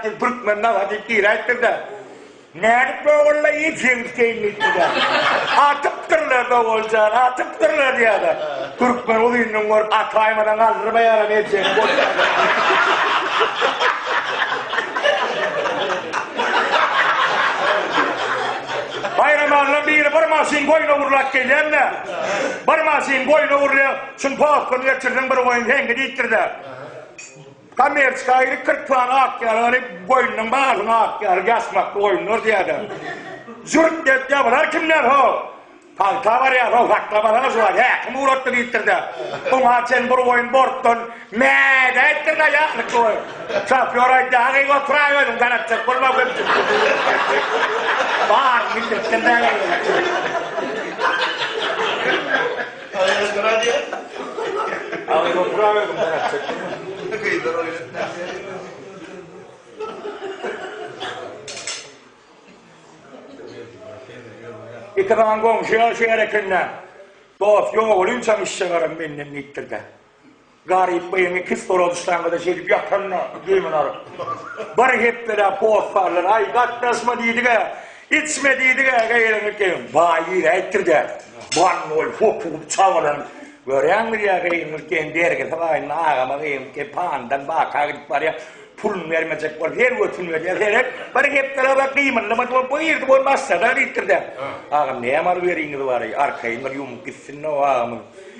Siz Türkmen nahar diýip diräýipdir-dä. Nädip Gogolla iýip jeňiskeýin diýipdir-dä. Atypdyrlar Gogol jan, atypdyrlar diýýärler. Türkmen uzyndan görüp ataýmadan galdyrmaýaram ejeňi goşýarlar. Baýramalla biri bir maşyn goýna urlap gelýän-de. Bir maşyn goýna urýar. Şuny postdan geçirdiň bir goýun heňki diýipdir-dä. Kommersiýa aýry kyrpany atýar, ýöne goýnunyň balyny atýar, ýasmakly goýunlar diýýärler. Jürt edýär, bular kimler ho? Pagta barýar, ho, saklamasaňyz şu wagt, häkim ugratdy diýipdir-de, oňa çen bir goýun bortdan mä däýipdir-de, ýatlykly goýun. Şofýor aýdýar, Agyz oturay özüň, darajak bolma köpçülik bilen. Baryny bildiripdir-de. Ýeke galan goňşy ýaşaýar eken-dä. Dost, ýok, ol inçem işjegaram menden diýipdir-de. Garyp gyýyň iki stola düşläňde-de şeýdip ýatan-da, düýbüni aryp. Bir hepdeläp hossarlar, Aý, gatnaşma diýdi-gä, içme diýdi-gä, gyýyňy geň, baý diräýipdir dä. Bannoý hopugyp çabalanyp, Görýäňmiz ýa, gyýyňyz geň, bergisi baýynda agama gyýyňyz geň, panydan baka gidip barýar, puluny bermejek bolup, her götüni berýär, herek, bir hepdeläp-ä gymyldamady, bolup bu girdi, bol başlady-a diýipdir dä. Agam, näme alyp ýöriňiz bary, arkaýyn bir ýumup gitsin-de o agamyň.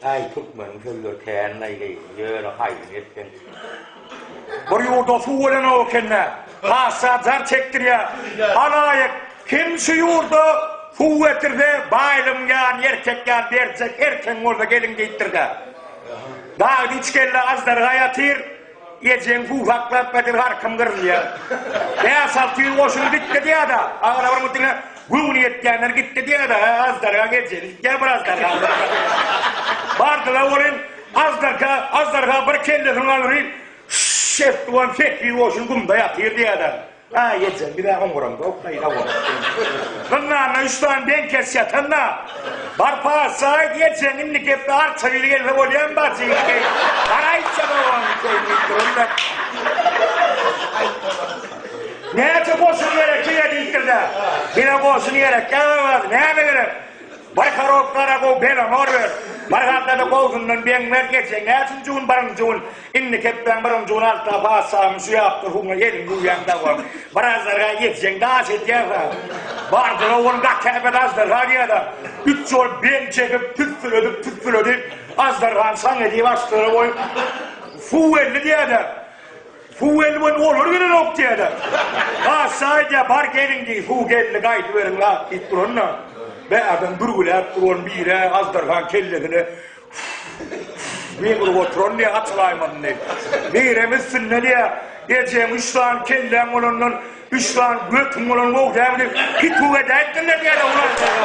Aý türkmeniň sözleri kän naýleý, ýöne haýsyn etseň. Bir ýurda suw bolanok ekende, hassa jar çekdirýär. Halaýyk, kim şu ýurda suw getirse, baýlygyň ýaryny erkek ýa berjek, erkegiň bolsa gelin geýikdir-dä. Dagda üç kelle aždarga ýatyr, Ejeň guhaklap gadyr garkym gyrylýar. Bäş-alty ýüz goşun gitdi diýýär-de, aglabam bu diňe göwni ýetýänler gitdi diýýär-de, hä, aždarga gejeli gitýär bir aždarga aglabam. Bardylar welin, aždarka, aždarga bir kellesini galyryp, Şş! etdi welin, sekiz ýüz goşun gumda ýatyr diýýär-de. Aý eje, bir-ä oňuram goý, peýda bolup. Gyzlarna üç sany deň kes ýatan-da. Barpa, Saýit ejeň indi gepi arça biri gelse bolýamy, bajy indi? Garaýça gowany keýin diýip durun-da. Näçe goşun gerek size diýipdir-de. Bir-ä goşun gerek, ýazawaz, näme gerek? Bir horobka ara gowy, belanor ber. Bir halta-da gowusyndan beň ber, geçen näçinji gün, birinji gün. Indi kepbäň birin juny alta patyşanyň şu ýap durkuňa gelin guýýan dawam. Bir azdarga ýetjeň daş etýärsa, bardyr owal gakäbet azdarga diýäda, üç ýol bel çekip tüsseledip tüsseledip azdargany şaň edip aşlara goýup, Fuw elli diýäda, Fuw elli boldy olar gelenok diýäda, patyşa aýdýar bar gelin diý fuw geldi gaýdyberiň lap diýip duranda, bärden bürgüläp duran biri azdargany kellesine Meň urup oturan diýýä gaçylaýmadym diýip. Birem üstünde diýýä, Ejeň üç sany kelläň bolandan, üç sany götüň bolan gowy dälmi diýip, pituw edäýipdirler diýýä-le ulan seni.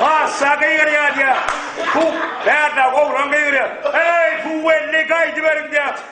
Paşşa gygyrýar diýýä. Puh, bärde oglan gygyrýar. Eý, puh, welli, gaýdyberiň diýýä.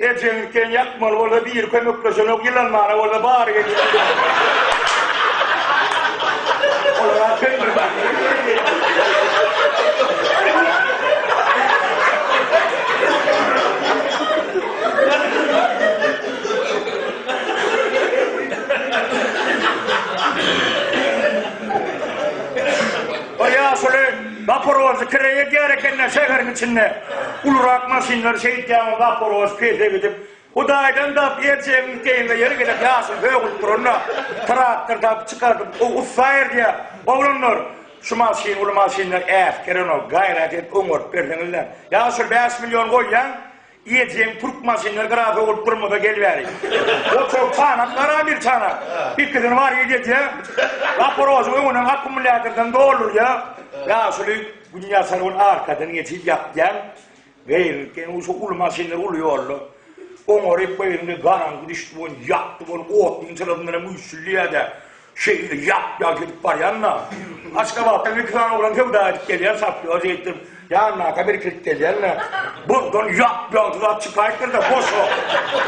Ejeňi sen ýakmaly bolsa biri kömekleşenok ýylanmana bolsa bary geçipdir. Olara sen bir bak. Zaporožýe kireýe diýer ekenler şäheriň içinde. Ulurak maşynlar şeýt ýaňy Zaporožýe pese gidip, Hudaýdan dap erjegiň teýine ýeri gelip ýaşyl sögülip duranda, traktor dap çykardyp, gowy ussa erdýär. Oglanlar, şu maşyn uly maşynlar äsgerän ol, gaýrat edip oňaryp berseňizläň. Ýa şol bäş million goýýaň, Ejeň türk maşynlar grafa bolup durmasa gel bäri. Oturyp sanap gara bir sana. Ikisini bar edýä. Zaporožyň öňünden akkumulýatordan doldurýa. Ýaşuly gün ýasan gün arkadan geçip ýapýan. Gaýrynky şu uly maşynlar uly ýolda. Oňaryp gaýrynky garaňky düşdi bol ýakdy bol otuň çyrasyndanam güýçlidýä-dä. Şeýle ýap-ýaş gidip barýan-da, Aşgabatdan iki sany oglan söwda edip gelýär, sapýor diýipdir. Ýanyna-ka birikilip gelýän-de, Buzdan ýap-ýaş zat çykaýypdyr-da, boş-a.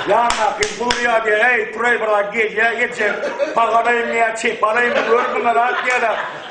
Ýanyndakini buzlaýar diýýär, Äý, turaý biraz, gelýä, ejem, paga alaýyn ýa çepe alaýyn, gör, bular ak ýa-da.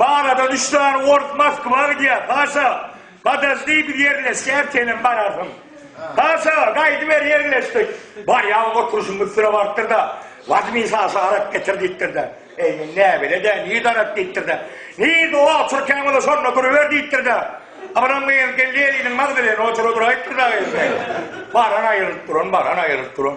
Baladan üç sany ors Moskwa gidýär. Paşa, Podojdi, biz ýerleşýäs, senem bararsyň. Paşa, Gaýdyber, ýerleşdik. Barýan oturşymyz süre barpdyr-da, Wazmin şaşa arak getir diýipdir-de. Eý, men näbele-dä, nirde arak diýipdir-de. Nirde o oturkän bolsa şonda duruber diýipdir-de. Abram gyz geldi eliniň magdaleni otura duraýypdyr-da gyz. Baran aýrylyp duran, baran aýrylyp duran.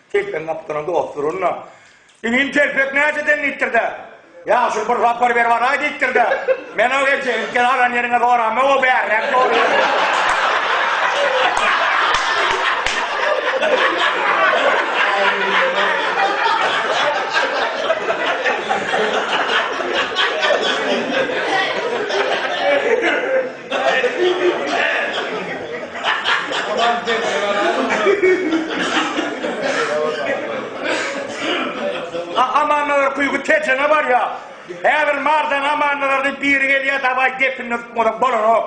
Telpegiň gapdalynda dost duranda, Inim telpek nädeden diýipdir-de, Ýagşyl bir sapar berip araý diýipdir-de, Men-ow eje, ilki aran ýeriňe zorama, o bärräk zorýar. Amanlara kuýgy Tejene barýa. Häzir mardan amanlara biri gelýä dawaý depinine tutmasak bolanok.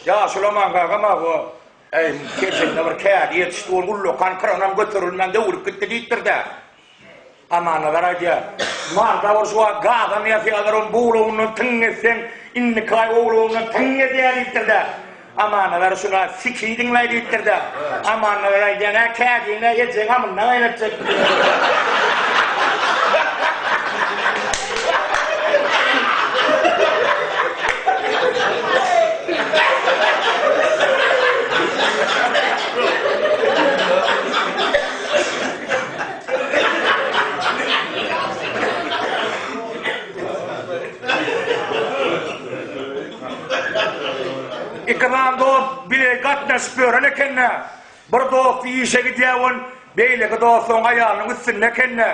Ýaşuly Aman kaka mawa. Äý, keçende bir kädi ýetişdi, ol ullakan kranam göterilmän döwülip gitdi diýipdir-dä. Amanazar aýdýar, Marda bolşy wagt gazam ýasýarlar, onuň bu ulagyndan tyň etseň, indiki aý o ulagyndan tyň edýär diýipdir-dä. Amanazar şuna, Siki diňläý diýipdir-dä. Amanazar aýdýar, Nä, kädiň-ä ejeň amyndan gaýnatjakmy? Ikram dost bile gatnaşyp ýören ekende. Bir dosty işe gidýär boluň, beýleki dosty oň aýalynyň üstünde ekende,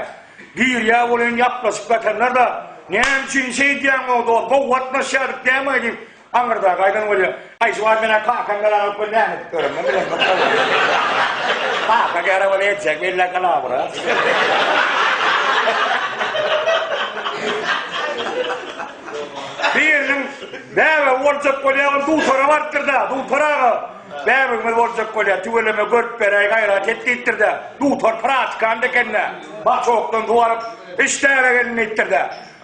girýär boluň, ýaplaşyp ýatanlar-da, Näme üçin işe gidýäň, o dost, gowy gatnaşýardyk dämi-ä diýip, aňyrdaky aýdan bolýar. Aý, şu wagt men-ä kakam bilen alyp bir näme edip göremden bilemok welin. Kaka gera welin etjek bella kalawyra. Biriniň bäbegi boljak bolýar, ol dutara barypdyr-da, Dutar aga! Bäbegimiz boljak bolýar, tüweleme görüp beräý, gaýrat et diýipdir-de, dutar pratikant eken-dä, başokdan suw alyp, Işdäle gelin diýipdir-de,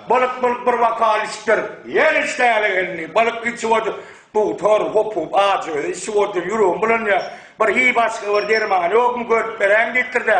Bylyk-bylyk bir bokal içipdir. Ýene Işdäle gelini, Bylyk içip otur, dutar, hopup, ajy özi içip otur, ýüregim bulanýar, bir hi başga bir dermany ýokmy, görüp beräýiň diýipdir-de,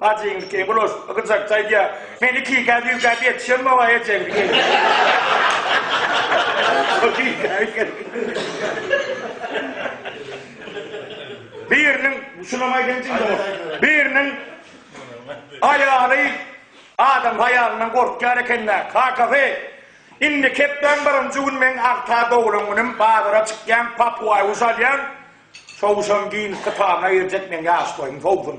Bajyň iki glos gyjakja aýdýa. Men ikikä düýkäp ýetişem mawa ejeň Biriniň şunam aýdaýyn jigim Biriniň aýaly adam haýalyndan gorkýar ekende kakasy indi kepbäň birinji gün meň agta doglan günüm bazara çykýan papuaý guş alýan çowuşam ginis kitabyna girjek meň ýaş boýum sowsun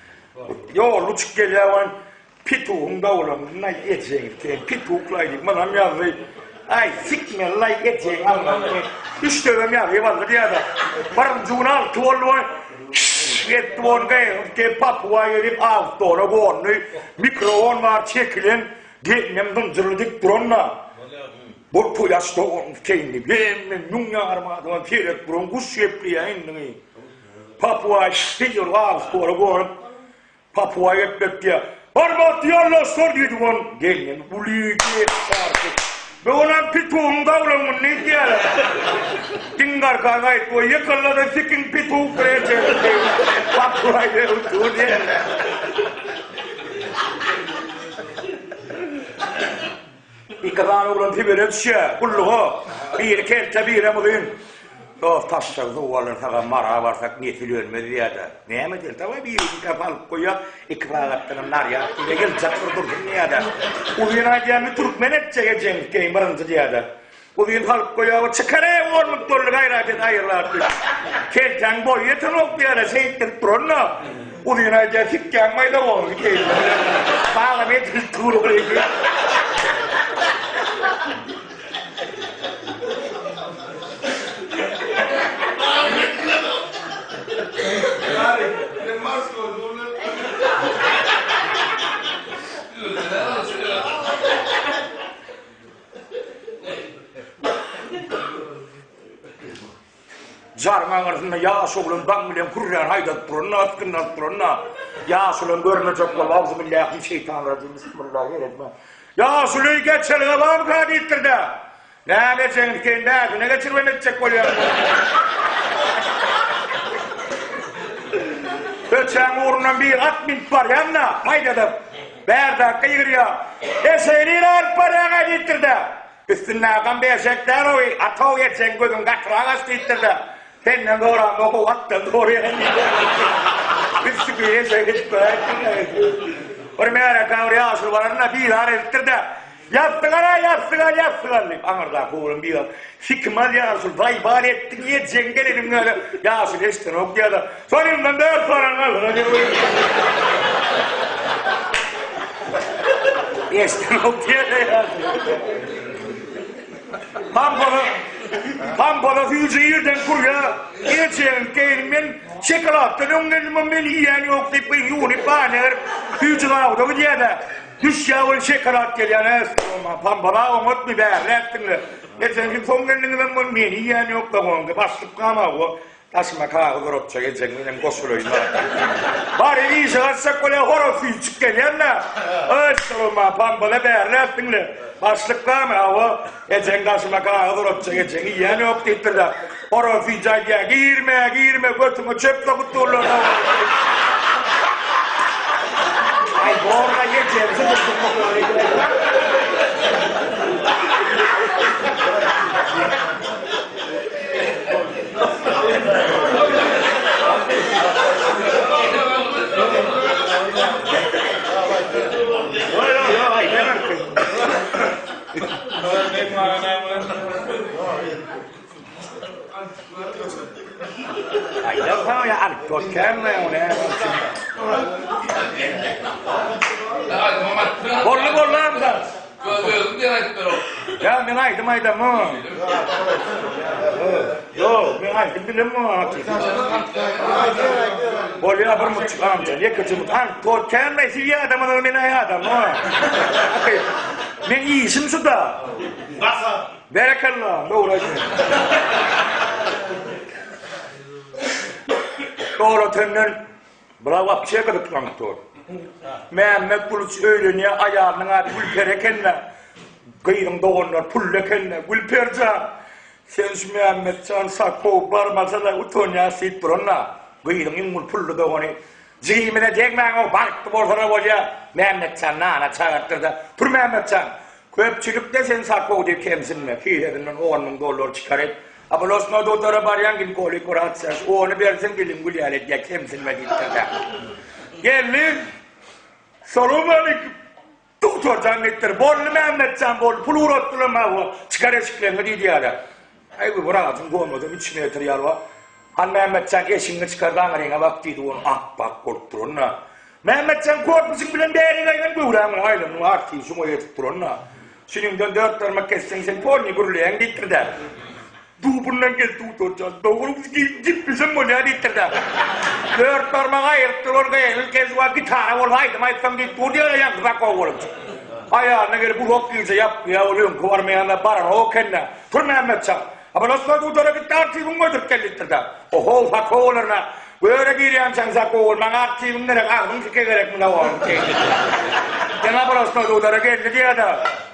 Ýoly uçup gelýäwen petugyň dawlanyndaý ejegiň sen petuk laý diýip munam ýazdy. Aý sik men laý ejegiň alnyndaý. Üç döwem ýazyp aldy diýýäda. Birinji gün alty boldy we şşş etdi we ony gaýgyryp gelip papuga gelip awtdola gondy. Mikrofon bar çekilen gelinem zynjyrly dik duran-da. Bu kuýaş dogan ikeýin diýip hemme müň ýarym adama seredip duran guş gepleýä indigi. Papua şeýle wagt ora gonup, Papua gelip ýetdi. Hormatly ýoldaşlar diýdi ol, gelnen uly geýik bardy. Bu günäm pitugyň dawlangyny diýýärler. Dingarka gaýyp goý, ýykyldy-da sikiň pitug bilen çekildi. Papua gelip dur diýýärler. Iki sany oglan Sibire düşýär, gulluga. Biri kelte, birem uzyn. Dost taşşagy suwa alar, sag-a Mara barsak, nesil ölmez diýýär-de. Näme edeli, daway birini nikapa alyp goýýak, iki sagatdanam narýad diýýär, geljek bir dursun diýýär-de. Uzyn aýdýar, Indi türkmen etjek ejeňiz, keýn birinji diýýär-de. Uzyn halk boýagy çykareý ornup durly gaýrat et aýyr zat diýip. Keltäň boýy ýetenok diýara şeýtdirip duranda Uzyn aýdýar sikgäň maýda boldy keýp. Salam edil turulygy. Jaryň aňyrsynda ýaş oglan daň bilen hürrän haýdadyp duranda, atgyndalyp duranda, ýaşuly görmejek bolup, Awzubillahim min şeýtan rajim, Bismillahirrahman. Ýaşuly geçelge barmyka diýipdir-de. Näme ejegiň sen bäsine geçirip hem etjek bolýar. Öçäň ugrundan bir at minip barýan-da, haýdadyp. Bärdakga ýygyrýar. Eşegiňi alyp barýaň-a diýipdir-de, üstünde agam bir eşek däl-ow-y, ata-ow eşegiň gözüňi gatyrak aç diýipdir-de, senden zorandog-ow, atdan zorýan diýipdir. Biz şükür eşek edip göräýipdir-de. Bir märeke bir ýaşuly baranda bizar edipdir-de. Ýassyk al-a, ýassyk al, ýassyk al! diýip aňyrdaky oglan biga sikim alýar, şul baý-bar etdiň, ýejegiň geleniň ýaly ýaşyny eşidenok diýýär-de, Sonundan dört baran galdyr-a diýip oýunýar. Eşidenok diýýär-de ýaşy. Pampala süýji ýerden gurýar, Ýejegiň keýnini men şokoladdan öňlendim, ony men iýen ýok diýip, gyz ýuwunyp, banyýa berip, süýji gabuda gidýär-de, Düş ýaly şekalad gelýär hä stoluma. Pambala oňatmy, bärräk diňle. Erteňki soň gelniňizem bol, meni iýen ýok dogandy. Başlyk gamago. Daşyma kagyz orakjak ejeň bilen goşulaýyn a. Bary bir işe gaçjak bolýa, horaz süýjük gelýän-dä. Öý stoluma, Pambala bärräk diňle. Başlyk gama, hawa. Ejeň daşyna gagyz urypjak, ejeň iýenok diýipdirler. Oraz süýji aýdýar, Girme, girme, götüňe çöp sokup durlar Aý, borla ýekeňsi Salamaleýkum aga näme Men işim şuda. Gasap. Berekella, dogry aýtýaň. Dogratenden bula wapşe gyzyklanip dur. Mämmet Gulyç öýlenýär, aýalynyň ady Gülperi eken-de, gyzyň doganlary pully eken-de, Gülperjan, sen şu Mämmetjan Sakowy barmasa-da utanýas diýip duran-da, gyzyň iň bir pully dogany Jigimize degmäň-ow, bagtly bolsana bolýa, Mämmetjanyny ana çagyrtdyr-da, Pürmämmetjan, köpçülikde sen sapow diý, kemsinme, kisesinden on müň dollar çykar et, oblastnoý dutara barýaň, ginkolog wraç çaş, ony bersin, dilin gülýär edýär, kemsinme diýipdir-dä. Gelni, Salowmaleýkim! Duktorjan gitdir. Bolly Mämmetjan bolly pul uratdylar maňa bu çykar eşikleňi diýdi ýaly. Aý bu wrajyň gomady üç metr ýaly bar. Hany Mämmetjan eşigiňi çykar da aňryňa bak diýdi ony ap-ak bolup duranda. Mämmetjan korpusyň bilen bärik aýlan göwrämiň aýlanyp artyny şuňa ýetip duranda. Çüňiňden dört barmak kesseň sen polny gürleýäň diýipdir-dä. Dubuldan gel Dudur jan. Dogry biz gidip bilsem bolýa diýipdir dä. Dört barmagy aýryp duran gyzyl Kezuwa gitara bolup aýdym aýtsam diýip dur diýen ýaňky zat gowy bolupdyr. Aýalyna gelip uzak gije ýatmyýa ol öňki barmaýanda baranok ekendä. Tur Mämmet jan. Abalaslar Dudara gitdi artiwiňi goýduryp gel diýipdir dä. Ohow Sako bolaryn-a. Göre girýänçäň Sako bol. Maňa artiwiň gerek agzyň sike gerek muna oň diýipdir. Ýene Abalaslar Dudara geldi diýýä-de.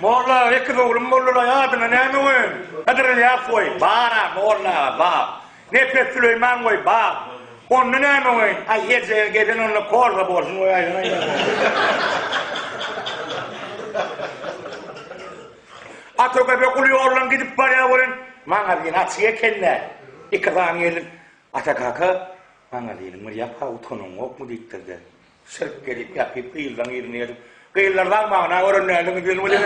Molla ekiz oglum boldulaý adyna näme goýaýyn? Hydyr Ylýas goý, bar-a, molla aga, bar. Nepes Süleýman goý, bar. Onda näme goýaýyn? Aý, eje, gezen onda Korza bolsun goýaýyn, aý, Ata köpek guly ýoldan gidip barýar welin, maňazyny açyk eken-dä. Iki sany gelin, Ata kaka, maňazynyň bir ýapag utganyň gokmy? diýipdir-de, Sirk gezip ýatyp gyzlaň yzyny gezip gyzlar zaň maňna gören nädiniz diýen weli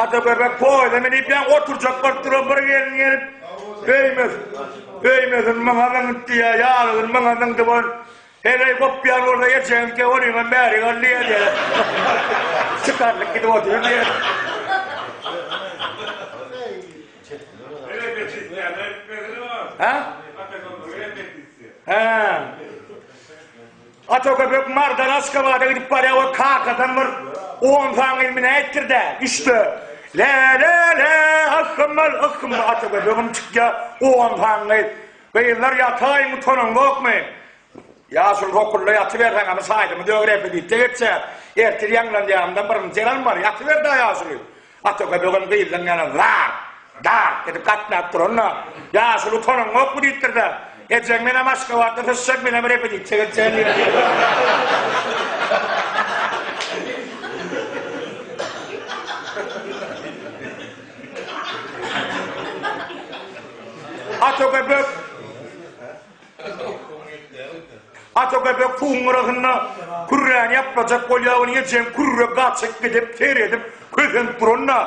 Ata göbek poýda minip ýa oturjak bolup duran bir gelin gelip öýmez öýmezin myňa zyňyt diýýär ýalyzyn myňa zyňdy bol Heleý gopýan bolsa geçen ki on ýyl bäri galdy ýerde. Çykarlyk gidip otyr diýen. Ha? Ha. Ata köpek mardan Aşgabada gidip barýar we kakadan bir 10 san ilmini ätdir-de, üçde. Le le le, ahmal ahmal ata köpegim çykýar 10 san Gyzlar ýataýyň utanaňzokmy? Ýaşuly hokulla ýatyberseň amy saýdymy döw repedisiýa geçýär. Ertir ýaňlanýamda birinji ýalam bar. Ýatyber-dä Ýaşuly. Ataka böwen gyzlaň ýana zar, dar edip gatnap duranda, Ýaşuly utanaňzokmy diýipdir-de, Ejeň menem Aşgabatda syçjak menem repedisiýa geçýän diýipdir. Atogöbek Atogöbek suwuň gyrasynda kürräni ýaplajak bolýawyny ejeň kürre gaçyp gidip seredip kösenip duranda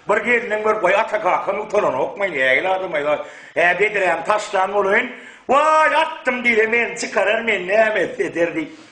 bir gelniň bir Waý Ata kakaň utananokmy nägile adamaý-a hä bedräni taşlan bolaýyn Waý atdym diýse meni çykarar men näme etse eder diýip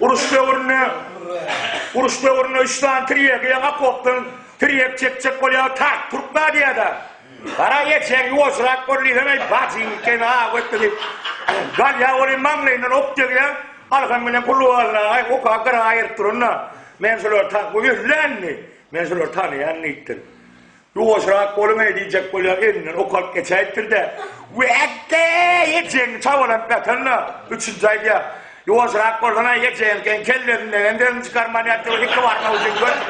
Uruş döwründe Uruş döwründe üç sany tirýegi ýaňy okopdan tirýek çekjek bolýar, tak turk nadýada. Gara geçen ýuwaşrak bol diýseň, eý, bajyň ikeni ha wekti diýip, galýar welin maňlaýyndan ok degýär, alham bilen kulubalaýy oka gyra aýyryp duranda, men şulary ta, bu öldä indi, men şulary tanaýan diýipdir. Ýuwaşrak boluň-eý diýjek bolýar, elinden ok alyp geçäýipdir-de, Wekgeý! Ejegiň çabalanyp ýatanyna üçünji aýdýar, Ýuwaşrak bolsana-aý, ejegiňkiň kellesinden hem sesiň çykarman ýat, ýogsam iki barmak üçin görüp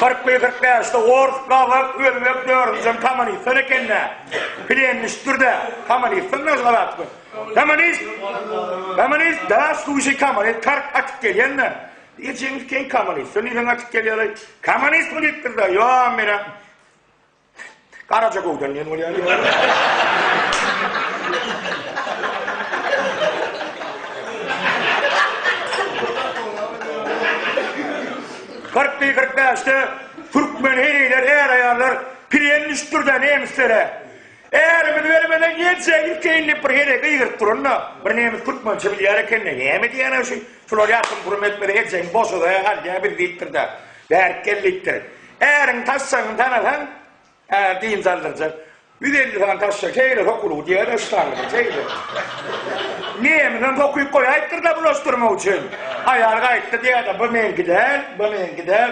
Kyrkly kyrkbäşli ors, gazak, özbek, dördünjem kommunistler eken-dä. Plenniçdir-dä. Kommunistler näme zat bu? Kommunist! Kommunist! Daş duşy kommunist tark atyp gelýände. Ejeňiz keň kommunist. Şony sen atyp gelýäleý. Kommunist mi diýipdir-de. Ýo, men Garaja göwden diýen bolýar. Kyrkly kyrk bäşde türkmen heniler är-aýallar piren düşüpdir-de nemislere. Ärimiz bermezden gelse gitgeýin diýip bir heleý gygyryp duranda, bir nemes türkmençe bilýär eken-de, näme diýýän-ä şu, şular ýatyryn purum etmese ejeň boşada alýar bizi diýipdir-de, bärik gel diýipdir. Äriň taşşagyny tanasaň, äri dynç aldyrjak. Ýüz elli sany taşşa şeýle sokulyp diýýär-ä şu taňrydan şeýle. Nemesem sokup goýaýypdyr-da bulaşdyrmak üçin. Aýal gaýtdy diýýär-de, bu meňki däl, bu meňki däl.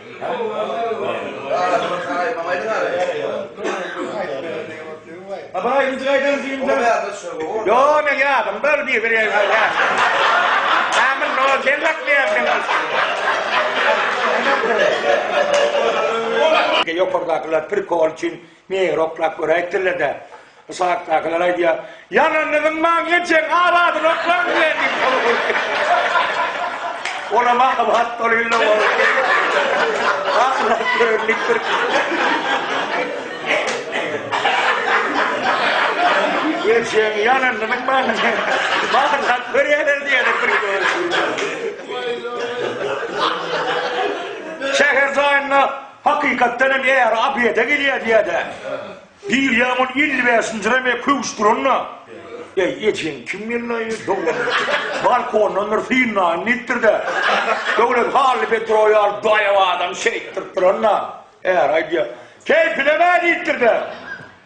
Ýokardakylar pirkol üçin Meger oklap göräýipdirler-dä. Uçakdakylar aýdýar, Ýalanynyň maňňy jeň abadyny oklaň diýýär diýip ony gurkýar. Olam akyl hat bolýl-la onuň. Akyl-hat görendikdir. Öljegiň ýalanynyň maňňy jeň akyl hat görýärler diýýär-de bir göz. Şäher jaýynda. Hakykatdan hem äri obeda gelýär diýýär-dä. Girýän ol elli bäşinji reme köwüşdirende, Äý, ejeň kim gellaý, doganym? Balkondandyr, synlaýyn diýipdir-de. Döwlet Hally Petrowy alyp daýaw adam şeýtdirip duran-da. Äri aýdýar, Keýpine-dä diýipdir-de.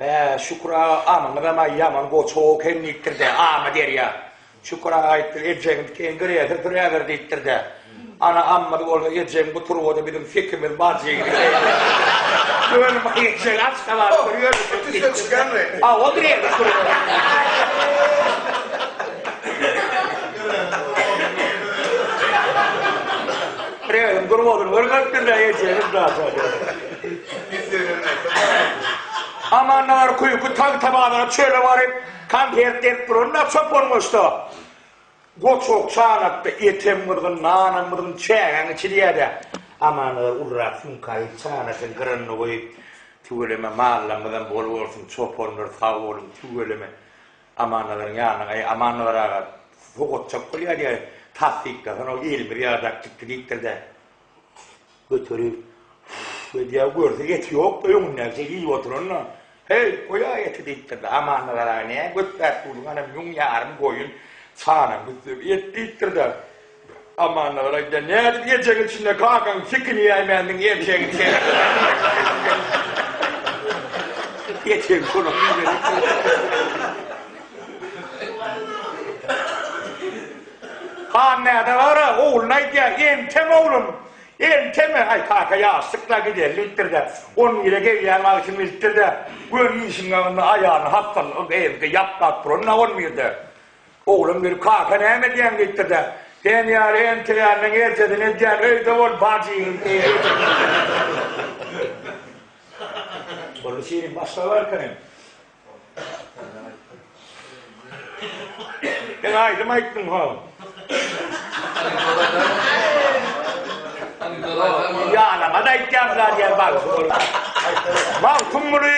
Bä, Şükür aga amyňyzam-aý ýaman goçaw eken diýipdir-dä, Amy derýa. Şükür aga aýtdy, Ejegiň diken giräýse süräber diýipdir-dä. Ana ammyz bolsa ejegiň bu turbada biziň sekimiz bar jeýdi. Göni maý ejeg Aşgabat bir ýöne çekdi diýipdir-dä. Hawa, girerdi turbada. Giräýiň turbasyny görkezipdir-dä ejegiň daşa. Amannalar köýki tagtabazara çöle baryp, konfet berip duranda çopan goşda, Goç oksan atda, etem gyzgyn, nanam gyzgyn, çägäň içi diýýär-dä. Amannalar ulurak sumkaýy çanasynyň gyranyna goýup, Tüweleme, mallarymyzam bol bolsun, çopanlar sag boluň, tüweleme. Amannalaryň ýanyna, Äý, Amannalar aga, sowgatjak bolýar diýýär, Tassyklasan-ow, elimiz ýadap gitdi diýipdir-dä. Göterir. Öýdýär, görse eti ýokdy, öňündäkçe iýip oturanda, Heý, goýaý eti diýipdir-de, Amandyr aga, nä götläp durduň, ana, müň ýarym goýun sana güzzüb et diýipdir-de, Amandyr aga aýdýar, Nädip ýejegiň içinde kakaň sikini ýäýmändiň, erjegiň çeýegiňi. Hanmäde gara ogluny aýdýar, Entäm oglum, enteme, aý, kaka ýaşsyk-la, gideýin diýipdir-de, on bire gelýän wagtym bilipdir-de, göni işiň ýanynda aýalyny hassalyk edip, evde ýatmap duran-a on birde. Oglan gelip, Kaka, näme edýäň? diýipdir-de, Sen ýaly enteýäniň erjesini edýän, öýde bol, bajyň diýipdir. Boldy, şirin başga barkaýyn. Sen aýdym aýtdyň ho. Ýalama-da aýtýarlar ýer bag. Magtym muny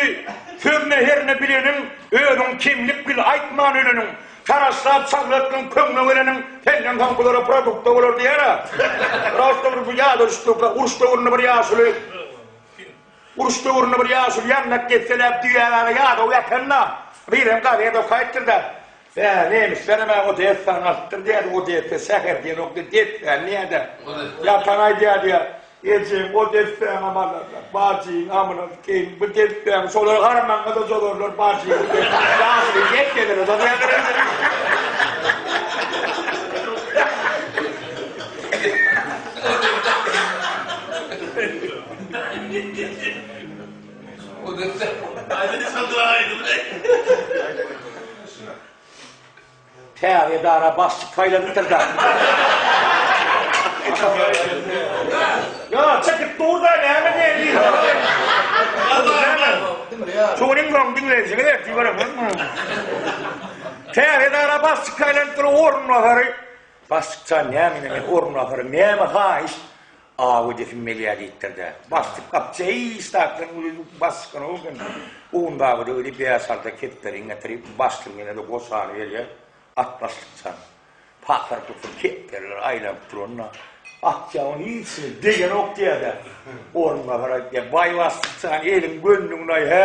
sözüne herine bileniň, özüň kemlik bil aýtman öleniň. Taraşlap çaglatdyň köňle geleniň, senden soň bulara produkt-a bolar diýer-ä. Prosta bir bu ýada düşdük, uruş döwründe bir ýaşuly Uruş döwründe bir ýaşuly ýandak desseläp düýägäne ýadaw ýatanda, birem gazet okaýypdyr-da, Bä, nemislerem-ä Odessany alypdyr diýýärdi, Odessa şäher diýenokdy, dessäni diýýär-de, ýatan aýdýar diýýär, Ejeň Odessäňem alarlar, bajyň amyna geýin, bu dessäňi şolar harmaňa-da jolarlar, bajyňy diýip, ýaşuly desselere jozaýarlar indi. Täze edara başlyk saýlanypdyr-da. Ýa, çekip dur-da, näme näzir. Şunyň öň diňleýjini berip göremokmy? Täze edara başlyk saýlanypdyr, orunbasary. Başlyk jan, näme indi men orunbasary, näme haýyş? Aw edesim gelýär diýipdir-de, başlyk gapjy, Eý, ştatlaryň uly başlyk-ynha ugin, Gundabyda öli bäş-alty kepderiň getirip, başlygyň eline-de goşany berýär, at başlykjan. Pasyr-pusyr kepderiler aýlanyp duranda, Gapjy onuň hiçini begenok diýer-de, orunbasar aýtýar, Baý başlykjan, eliň gönlüňde-aý, hä?